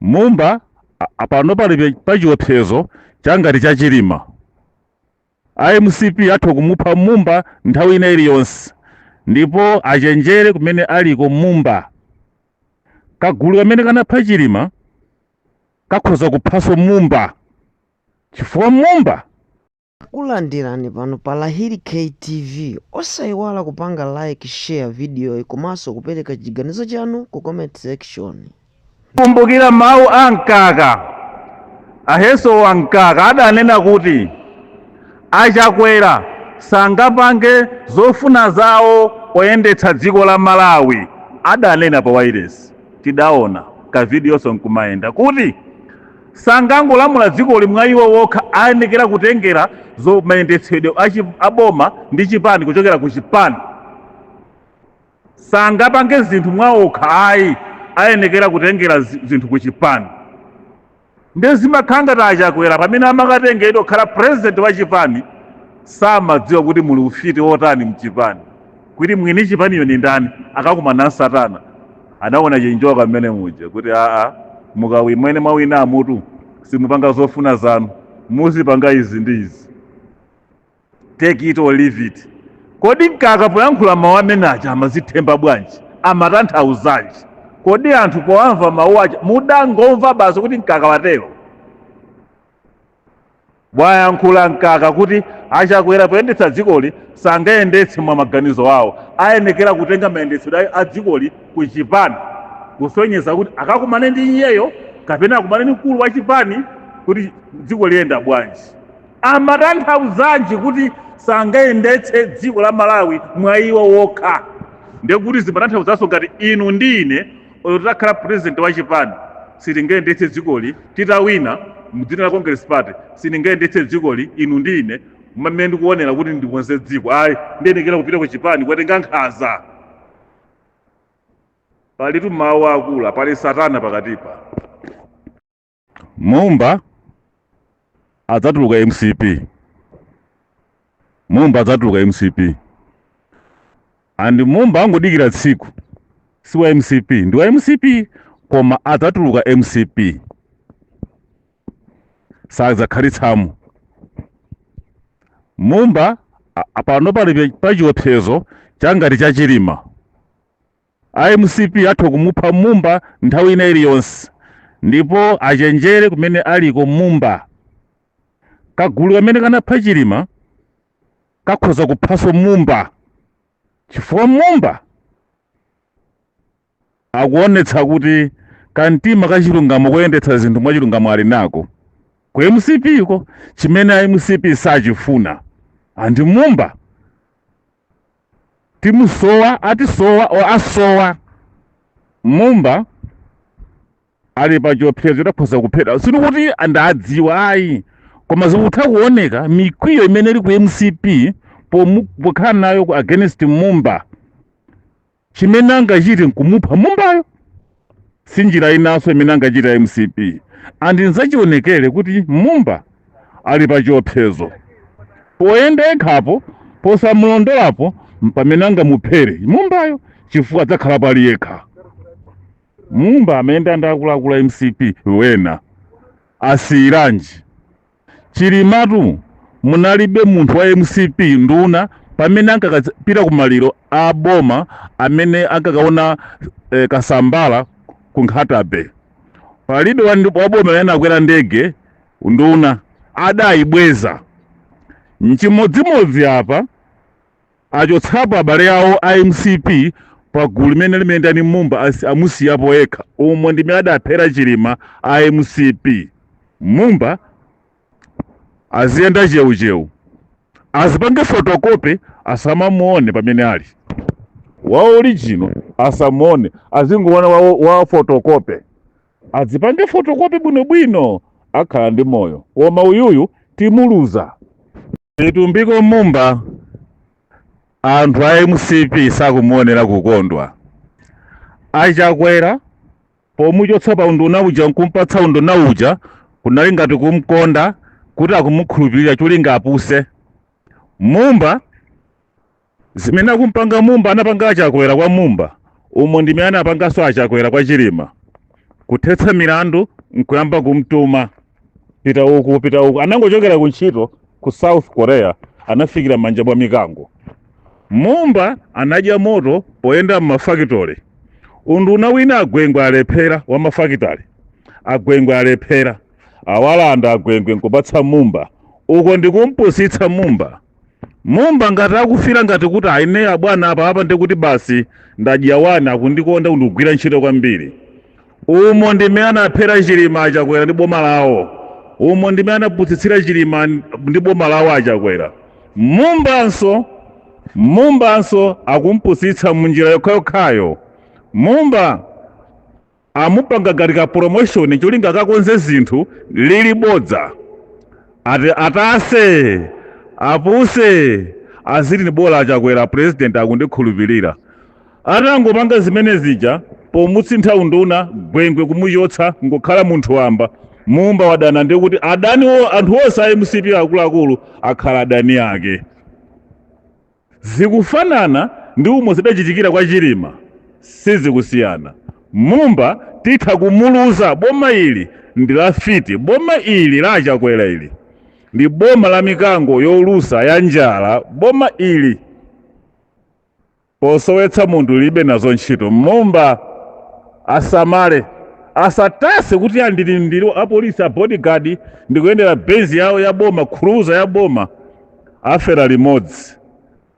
mumba a- a- pano pali pe- pachiopsezo changati cha chilima a mcp atha kumupha mumba nthawi ina iliyonse ndipo achenjere kumene aliko mumba kagulu kamene kanapha chilima kakhoza kuphanso mumba chifukwa mumba Takulandirani pano pa Lahiri K TV osaiwala kupanga like, share videoyi komanso kupereka chiganizo chanu ku comment section. Kumbukira mawu a mkaka a Eisenhower mkaka adanena kuti achakwera sangapange zofuna zawo oyendetsa dziko la malawi adanena pa wireless tidaona kavidiyonso nkumayenda kuti sangangolamula dzikoli mwa iwo wokha ayenekera kutengera zo mayendetsedwe achi- a boma ndi chipani kuchokera ku chipani sangapange zinthu mwa okha ayi ayenekera kutengera zi- zinthu ku chipani ndiye zimakhala ngati achakwera pamene amakatengedwa kukhala president wa chipani samadziwa kuti muli ufiti wotani mchipani kuti mwini chipaniyo ni ndani anakakumana na satana anakaona chinjoka mmene muja kuti aa mukawina mmene mwawina amutu simupanga zofuna zanu muzipanga izi ndi izi take it or leave it kodi mkaka poyankhula mawu amene aja amazithemba bwanji amatanthauzanji kodi anthu poamva mawu aja mudangomva basi kuti mkaka watero wayankhula mkaka kuti achakwera poyendetsa dzikoli sangayendetse mwa maganizo awo ayenekera kutenga mayendetsedwe a dzikoli ku chipani kusonyeza kuti akakumane ndi iyeyo kapena akumane ndi mkulu wa chipani kuti dziko liyenda bwanji amatanthauzanji kuti sangayendetse dziko la malawi mwa iwo wokha ndekuti zimatanthauzanso ngati inu ndi ine olo titakhala president wa chipani sitingayendetse dzikoli titawina mdzina la congress party sitingayendetse dzikoli inu ndi ine mmene ndikuonera kuti ndikonze dziko ayi ndiyenekera kupita ku chipani kukatenga nkhaza palitu mawu aakulu pali satana pakatipa mumba adzatuluka mcp mumba adzatuluka mcp and mumba angodikira tsiku si wa mcp ndi wa mcp koma adzatuluka mcp sadzakhalitsamo mumba a- a- pano pali pa- pachiopsezo changati cha chilima A mcp atha kumupha Mumba nthawi ina iliyonse ndipo achenjere kumene aliko Mumba. Kagulu kamene kanapha Chilima kakhoza kuphanso Mumba chifukwa Mumba akuonetsa kuti kamtima kachilungamo koyendetsa zinthu mwachilungamo ali nako. Ku mcp ko chimene a mcp sachifuna and Mumba timusowa atisowa or asowa mumba ali pa chiopsezo chodzakhoza kuphedwa si kuti ndadziwa ayi koma zikutha kuoneka mikwiyo imene iri ku mcp pokhala nayo ku against mumba Chimene angachite nkumupha mumbayo. Si njira inanso imene angachite a mcp and nzachionekere kuti Mumba ali pa chiopsezo. Poyenda yekha apo, posamulondolapo mpamene angamuphere Mumbayo chifukwa adzakhalapo ali yekha. Mumba amayenda ndi akuluakulu a mcp wena. asiyiranji? Chilimatu munalibe munthu wa mcp nduna pamene ankakapita ku maliro a boma amene ankakaona eh, kasambala ku nkhatabay palibe wa ndi- wa boma amene anakwera ndege nduna adayibweza nchimodzimodzi apa Achotsapo abale awo a mcp pa gulu limene limayenda ndi Mumba as amusiyapo yekha umo ndi mmene adaphera Chilima a mcp. Mumba aziyenda cheucheu azipange photocopy asamamuone pamene ali. Wa original asamuone azingoona wa, wa photocopy. Adzipange photocopy bwinobwino akhala ndi moyo koma uyuyu timuluza. Vitumbiko Mumba anthu a mcp sakumuonera kukondwa achakwera pomuchotsa pa unduna uja nkumpatsa unduna uja kunali ngati kumkonda kuti akumukhulupirira cholinga apuse mumba Zimene akumpanga Mumba anapanga Achakwera kwa Mumba umo ndi mmene anapanganso Achakwera kwa Chilima. Kuthetsa milandu nkuyamba kumtuma pita uku pita uku. Anangochokera ku ntchito ku South Korea anafikira manja mwa mikango. Mumba anadya moto poyenda m'mafakitale. Unduna wina agwengwe alephera wa mafakitale. Agwengwe alephera. Awalanda agwengwe nkupatsa Mumba. Uko ndikumpusitsa Mumba. Mumba ngati akufila ngati kuti ayi ne abwana apa apa ndi kuti basi ndadya wani akundikonda kundigwirira ntchito kwambiri. Umo ndi mmene anaphera Chilima a Chakwera ndi boma lawo. Umo ndi mmene anapusitsira Chilima n- ndi boma lawo a Chakwera. Mumbanso Mumbanso akumpusitsa munjira yokhayokhayo. Mumba amupanga ngati ka promotion cholinga akakonze zinthu lili bodza ati atase apuse aziti ine bola a Chakwera president akundikhulupirira atangopanga zimene zija pomusintha unduna Gwengwe kumuchotsa ngokhala munthu wamba mumba wadana ndi kuti adaniwo anthu onse a MCP akuluakulu akhala adani ake Zikufanana ndi umo zidachitikira kwa Chilima sizikusiyana. Mumba titha kumuluza boma ili ndi la fiti boma ili la a Chakwera ili ndi boma la mikango yolusa ya njala boma ili posowetsa munthu lilibe nazo ntchito Mumba asamale asatase kuti ndili ndi apolisi a bodyguard ndikuyendera benzi yawo ya boma cruiser ya boma afera limodzi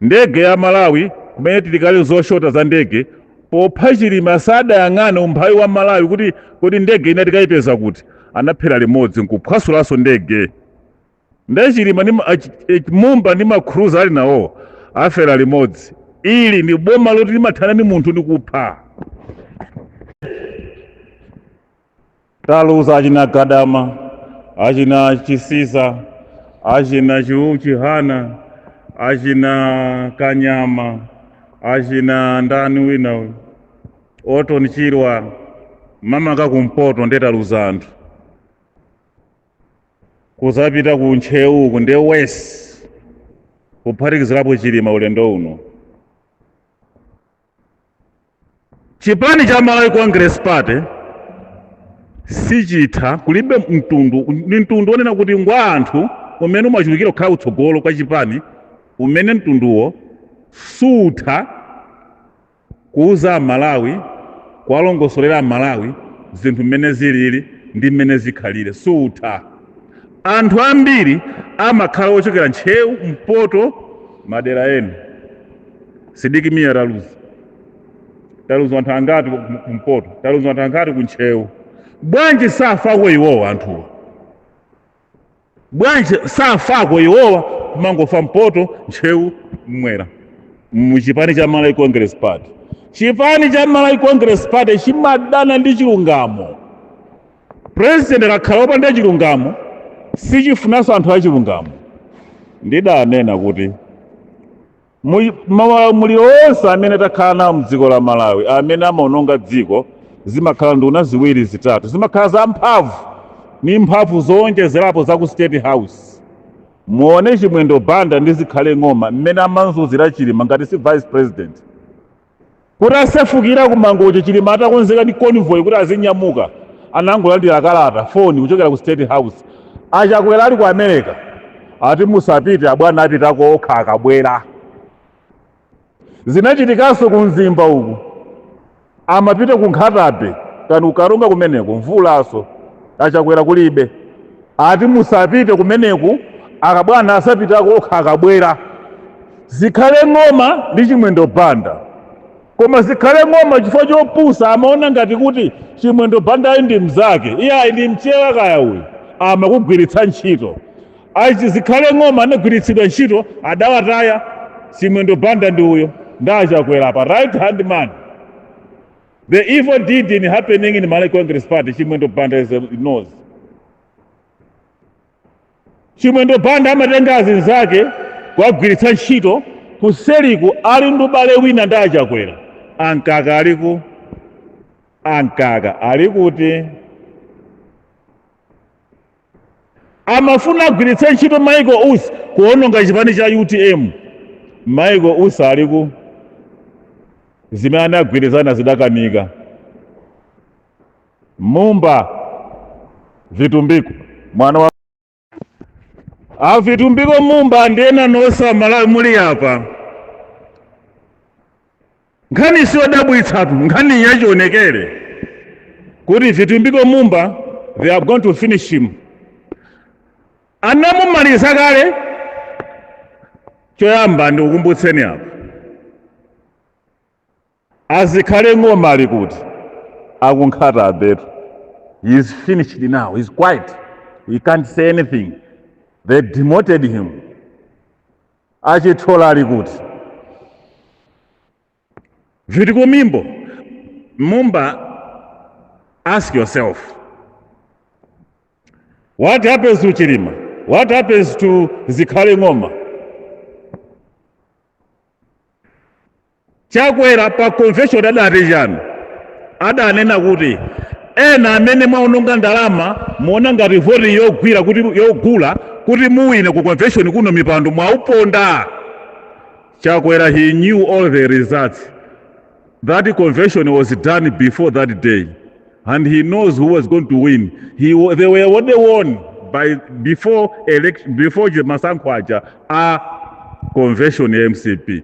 ndege ya Malawi kumene tili kale zoshota za ndege popha Chilima sadayang'ane umphawi wa Malawi kuti kodi ndege ina tikayipeza kuti anaphera limodzi nkuphwasulanso ndege nde Chilima ndi ma- achi- eh, Mumba ndi macruiser ali nawo afera limodzi ili ni boma loti limathana ndi munthu ndi kupha taluza achina Gadama achina Chisiza achina Chiwu Chihana achina Kanyama achina ndani wina uyu Orton Chirwa mamaka kumpoto nde taluza anthu kuzapita ku Ntcheu uku ndi west kuphatikizirapo Chilima ulendo uno Chipani cha Malawi Congress Party sichitha kulibe mtundu ni mtundu wonena kuti ngwa anthu umene umachulukira kukhala kutsogolo kwa chipani umene mtunduwo sutha kuuza aMalawi kuwalongosolera aMalawi zinthu mmene zilili ndi mmene zikhalire sutha anthu ambiri amakhala ochokera Ntcheu mpoto madera ena Sidik Mia taluza taluza anthu angati ku- ku- kumpoto taluza anthu angati ku Ntcheu bwanji safako iwowa anthuwa bwanji safako iwowa kumangofa mpoto Ntcheu mmwera mu chipani cha Malawi Congress Party chipani cha Malawi Congress Party chimadana ndi chilungamo president akakhala opanda chilungamo sichifunanso anthu achilungamo ndidanena kuti mu- maulamuliro onse amene takhala nawo mdziko la malawi amene amaononga dziko zimakhala nduna ziwiri zitatu zimakhala za mphamvu ni mphamvu zowonjezerapo za ku state house muone chimwendo banda ndi zikhale ng'oma mmene amamzunzira chilima ngati si vice president Kutasefukira ku Mangochi, Chilima atakonzeka ndi convoy kuti azinyamuka, anangolandira kalata, foni kuchokera ku State House. A Chakwera ali ku America ati musapite, abwana apitako okha akabwera. Zinachitikanso ku Mzimba uku, amapita ku Nkhata Bay kani ku Karonga kumeneko, mvulanso, a Chakwera kulibe. Ati musapite kumeneku abwana azapitako okha akabwera. Zikhale ng'oma ndi Chimwendo Banda. Koma zikhale ng'oma chifukwa chopusa amaona ngati kuti Chimwendo Bandayo ndi mnzake. Iyayi ndi Mchewa kaya uyu. Amakugwiritsa ntchito. Achi zikhale ng'oma anagwiritsidwa ntchito adawataya Chimwendo Banda ndi uyo. Ndi a Chakwera apa right hand man. The evil deeds happening in Malawi Congress Party, Chimwendo Banda he knows. Chimwendo Banda amatenga azinzake kuwagwiritsa ntchito kuseriku ali ndi ubale wina ndi achakwera ankaka aliku ankaka alikuti amafuna agwiritse ntchito michael usi kuononga chipani cha utm michael usi ali kuti zimene anagwirizana zidakanika mumba vitumbiko mwana wa avitumbiko mumba ndiye na nonse amalawi muli apa nkhani siyodabwitsatu nkhani yachionekere kuti vitumbiko mumba they are going to finish him anamumaliza kale choyamba ndikukumbutseni apa azikhale ng'oma ali kuti a ku nkhata bay-tu he is finished now he is quiet he can't say anything they demoted him a chithyola ali kuti vitumbiko mumba ask yourself what happens to chilima what happens to zikhale ng'oma Chakwera pa convention adati chani? Adanena kuti ena amene mwaononga ndalama mumaona ngati voti yogwira kuti yogula kuti muwine ku convention kuno mipando mwauponda. Chakwera he knew all the results. That convention was done before that day and he knows who was going to win. They were already won by before election, before the masankho aja a convention ya MCP.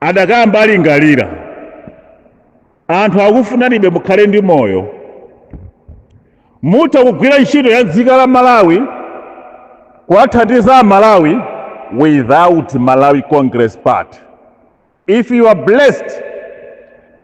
adakamba alingalira anthu akukufunanibe mukhale ndi moyo mutha kugwira ntchito ya dziko la Malawi kuwathandiza aMalawi without Malawi Congress Party if you are blessed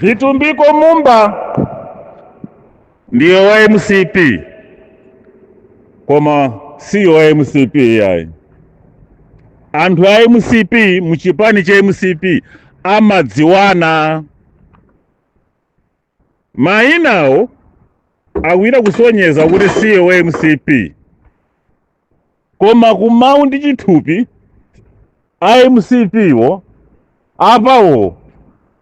Vitumbiko Mumba ndi wa MCP koma si wa MCP yayi. Anthu a MCP mchipani cha MCP amadziwana. Mayinawo akuyita kusonyeza kuti si wa mcp koma kumawu ndi chithupi a mcp wo apawo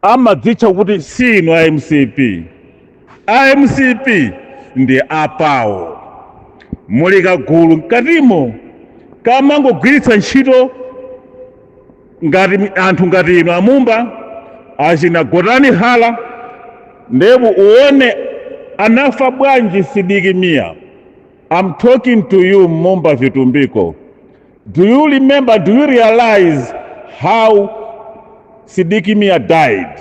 amadzitcha kuti si inu a mcp a mcp ndi apawo muli kagulu mkatimo kamangogwiritsa ntchito ngati anthu ngati inu amumba achina Gotani Hara ndiye pouona anafa bwanji Sidik Mia I'm talking to you Mumba Vitumbiko do you remember do you realize how Sidik Mia died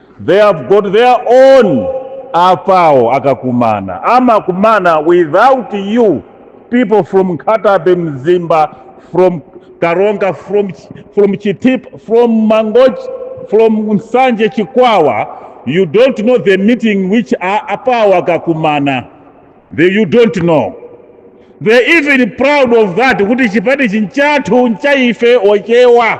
They have got their own apawo akakumana amakumana without you people from Nkhata Bay Mzimba from Karonga from, from Chitipa from Mangochi from Nsanje Chikwawa you don't know the meeting which a- apawo akakumana You don't know. They're even proud of that kuti chipani chi nchathu ncha ife ochewa.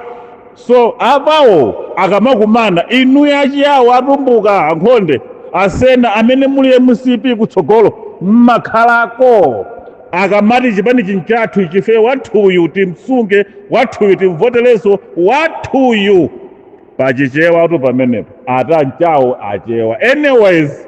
So apawo akamakumana inu achiyawo atumbuka ankhonde asena amene muli MCP kutsogolo mmakhalako akamati chipani chi nchathu ichi ife wathuyu timsunge wathuyu timvotereso wathuyu pachichewa tu pamenepo ata nchawo achewa anyways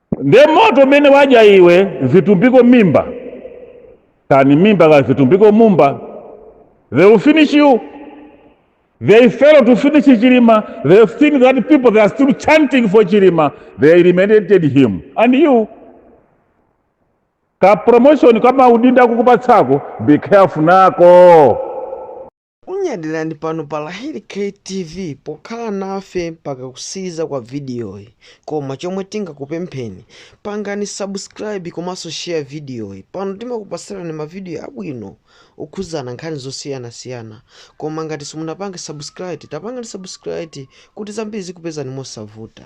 nde moto umene wadya iwe zitumbiko mimba kani mimba ka zitumbiko mumba they will finish you they fail to finish chilima they have seen that people they are still chanting for chilima they eliminated him and you ka promotion kama udinda kukupatsako be careful nako Tikunyadirani pano pa Lahiri K TV pokhala nafe mpaka kutsiriza kwa vidiyoyi koma chomwe tingakupempheni pangani subscribe komanso share vidiyoyi pano timakupatsirani mavidiyo abwino okhuzana nkhani zosiyanasiyana koma ngati simunapange subscribe tapangani subscribe kuti zambiri zikupezani mosavuta.